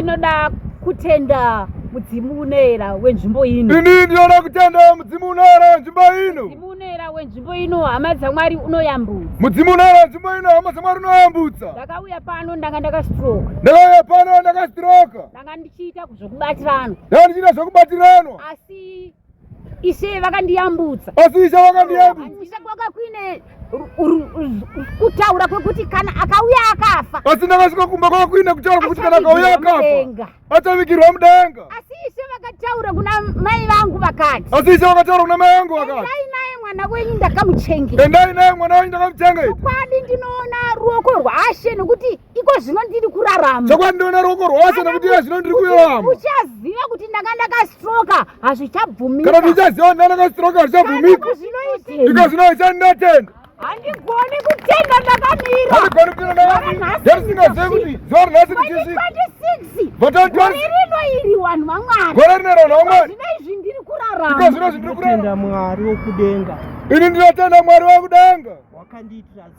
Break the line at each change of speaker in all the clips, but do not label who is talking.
Tinoda kutenda mudzimu unoera wenzvimbo ino. Ini ndinoda kutenda
mudzimu unoera wenzvimbo ino. Mudzimu unoera wenzvimbo
ino hama dzaMwari unoyambutsa. Mudzimu unoera wenzvimbo
ino hama dzaMwari unoyambutsa. Ndakauya pano ndanga
ndakastroka. Ndakauya pano
ndakastroka. Ndanga ndichiita
zvokubatirana. Ndanga ndichiita
zvokubatirana. Asi
Ishe vakandiyambutsa. Asi ishe vakandiyambutsa.
Handina kwaka kuine
kutaura kwekuti kana akauya akafa. Asi ndakasvika kumba
kwaka kuine kutaura kwekuti kana akauya akafa. Achavigirwa mudenga. Asi ishe vakataura
kuna mai vangu vakati. Asi ishe vakataura kuna
mai vangu vakati. Endai naye mwana wenyu
ndakamuchengeta. Endai naye mwana wenyu
ndakamuchengeta. Kwadi ndinoona
ruoko rwaShe nekuti iko zvino ndiri kurarama chakwandiona ruoko
rwose nekuti iye zvino ndiri kurarama uchaziva kuti ndanga
ndakastroka hazvichabvumika kana ndichaziva kuti ndanga
ndakastroka hazvichabvumika iko zvino ichandinatenda handigoni
kutenda ndakamira handigoni
kutenda
ndakamira yarisingazivi
kuti
zuva
rinhasi
ndichisvika ndinotenda
mwari wekudenga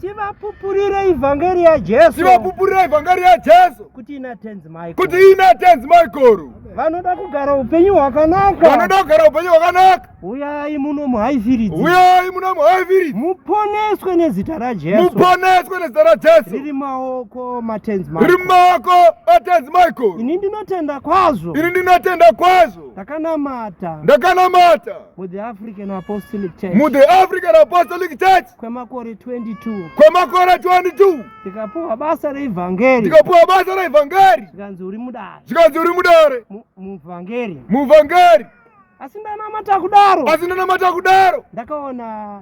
Tivapupurire
ivhangeri ya Jesu. Tivapupurire ivhangeri
ya Jesu. Kuti ina tenzi
Michael. Kuti ina tenzi
Michael. Vanoda kugara
upenyu hwakanaka. Vanoda kugara upenyu
hwakanaka. Uyai muno
muhaiviridzi. Uyai muno
muhaiviridzi. Muponeswe
nezita ra Jesu. Muponeswe nezita ra
Jesu. Riri maoko
matenzi Michael. Riri maoko
matenzi Michael. Ini ndinotenda
kwazvo. Ini ndinotenda
kwazvo. Ndakanamata.
Ndakanamata.
Mu the African
Apostolic Church. Mu the African
Apostolic Church. kwemakore 22
kwemakore 22
ndikapuwa basa
reivhangeri ndikapuwa basa
reivhangeri zvikanzi uri mudare
zvikanzi uri mudare
muvhangeri
muvhangeri
asi
ndanamata kudaro asi ndanamata kudaro
ndakaona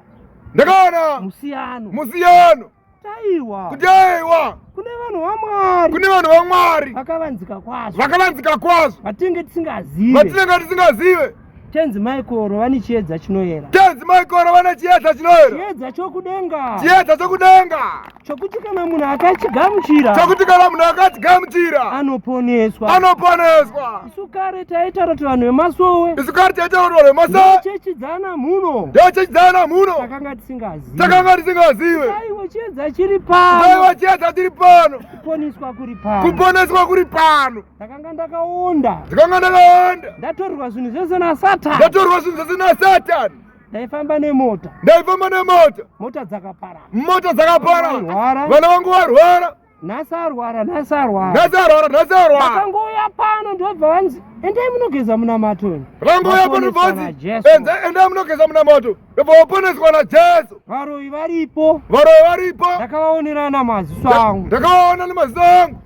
ndakaona musiyano musiyano
taiwa kuti
aiwa
kune vanhu
vamwari kune vanhu vamwari
vakavanzika kwazvo
vakavanzika kwazvo
vatinenge tisingazive
vatinenge tisingazive
Tenzi Maikoro
vane chiedza chinoyera. Tenzi Maikoro vane
chiedza chinoyera. Chiedza chokudenga.
Chiedza chokudenga.
Chokuti kana
munhu akachigamuchira. Chokuti kana munhu
akachigamuchira. Anoponeswa.
Anoponeswa.
Isu kare
taitaura kuti vanhu vemasowe. Isu kare taitaura kuti vanhu
vemasowe. Chechi dzana mhuno.
Ndiyo chechi dzana mhuno.
Takanga tisingazive.
Takanga tisingazive.
Aiwa chiedza chiri
pano. Aiwa chiedza chiri
pano. Kuponeswa kuri
pano. Kuponeswa kuri
pano. ndakanga ndakaonda
ndakanga ndakaonda
ndatorerwa zvinhu zvese
nasatan ndatorerwa zvinhu zvese
nasatan ndaifamba
nemota ndaifamba nemota
mota dzakapara
mota
dzakapara vana vangu
varwara
nhasi arwara
nhasi arwara nhasi arwara nhasi
arwara vakangouya pano
ndobva vanzi endai munogeza munamato vakangouya pano ndobva
vanzi endai munogeza munamato ndobva vaponeswa najesu varoyi varipo
varoyi varipo
ndakavaonera
namaziso angu ndakavaona nemaziso
angu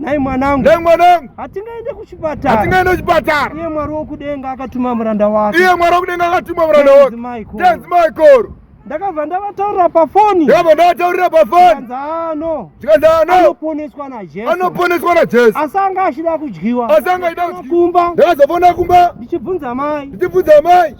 Nhai mwanangu. Nhai mwanangu. Hatingaende kuchipatara. Hatingaende kuchipatara. Iye Mwari wokudenga akatuma muranda wake. Iye Mwari wokudenga akatuma muranda wake.
Tenzi Michael. Ndakabva
ndavataurira pafoni. Ndakabva ndavataurira pafoni. Ndikadzano. Ndikadzano. Anoponeswa naJesu. Anoponeswa naJesu. Asi anga achida kudyiwa. Asi anga achida kudyiwa. Kumba. Ndakazofona kumba.
Ndichibvunza mai.
Ndichibvunza mai.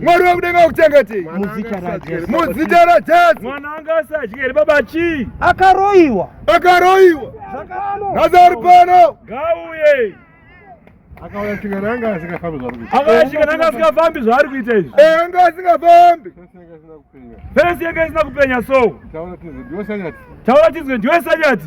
Mwari wekudenga wakuchengete muzita raJesu. Muzita raJesu. Mwana
wangu asadye here baba chii? Akaroiwa. Akaroiwa. Zvakano.
Nazari
pano.
Gauye. Akauya chika nanga asingafambi zvaari kuita. Akauya chika nanga asingafambi
zvaari kuita izvi. Eh anga asingafambi. Fensi yanga isina kupenya so. Taura tizwe ndiwe
sanyati. Taura tizwe ndiwe
sanyati.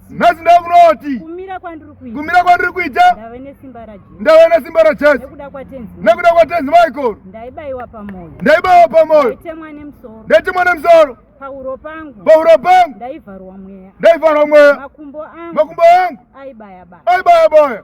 nhasi ndava kuda kuti
kumira kwandiri kuita
kumira kwandiri kuita ndave
nesimba rajesu
ndave nesimba rajesu
nekuda kwatenzi nekuda
kwatenzi michael
ndaibayiwa pamoyo
ndaibayiwa pamoyo
ndaitemwa nemusoro
ndaitemwa nemusoro
pauro pangu
pauro pangu
ndaivharwa mweya
ndaivharwa mweya makumbo
angu makumbo
angu
aibaya baya aibaya
baya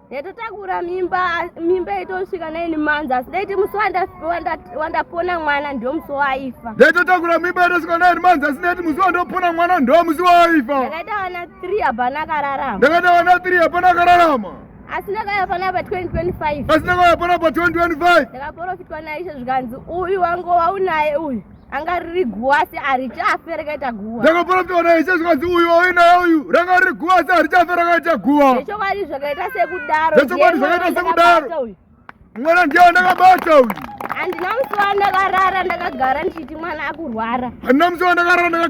yatotakura
mimba mimba yaitosvika naini manzi asi daiti musi wandapona mwana ndo musi waifa yaitotakura mimba yaitosvika
naini manzi asi daiti musi wandopona mwana ndo musi waifa ndakaita vana three
hapana akararama ndakaita vana three hapana
akararama asi ndakauya
panapa 2025 asi ndakauya panapa 2025
ndakaporofitwa naishe
zvikanzi uyu wangu waunaye uyu anga riri guva asi harichafe rakaita guva ndakaporofita ona
ishe zvikanzi uyu auinaye uyu ranga riri guva asi harichafe rakaita guva zvechokwadi
zvakaita sekudaro zvechokwadi zvakaita
sekudaro mwana ndiye wandakabata uyu handina musi
wandakarara ndakagara
ndichiti mwana akurwara
handina musi
wandakarara
ndakagara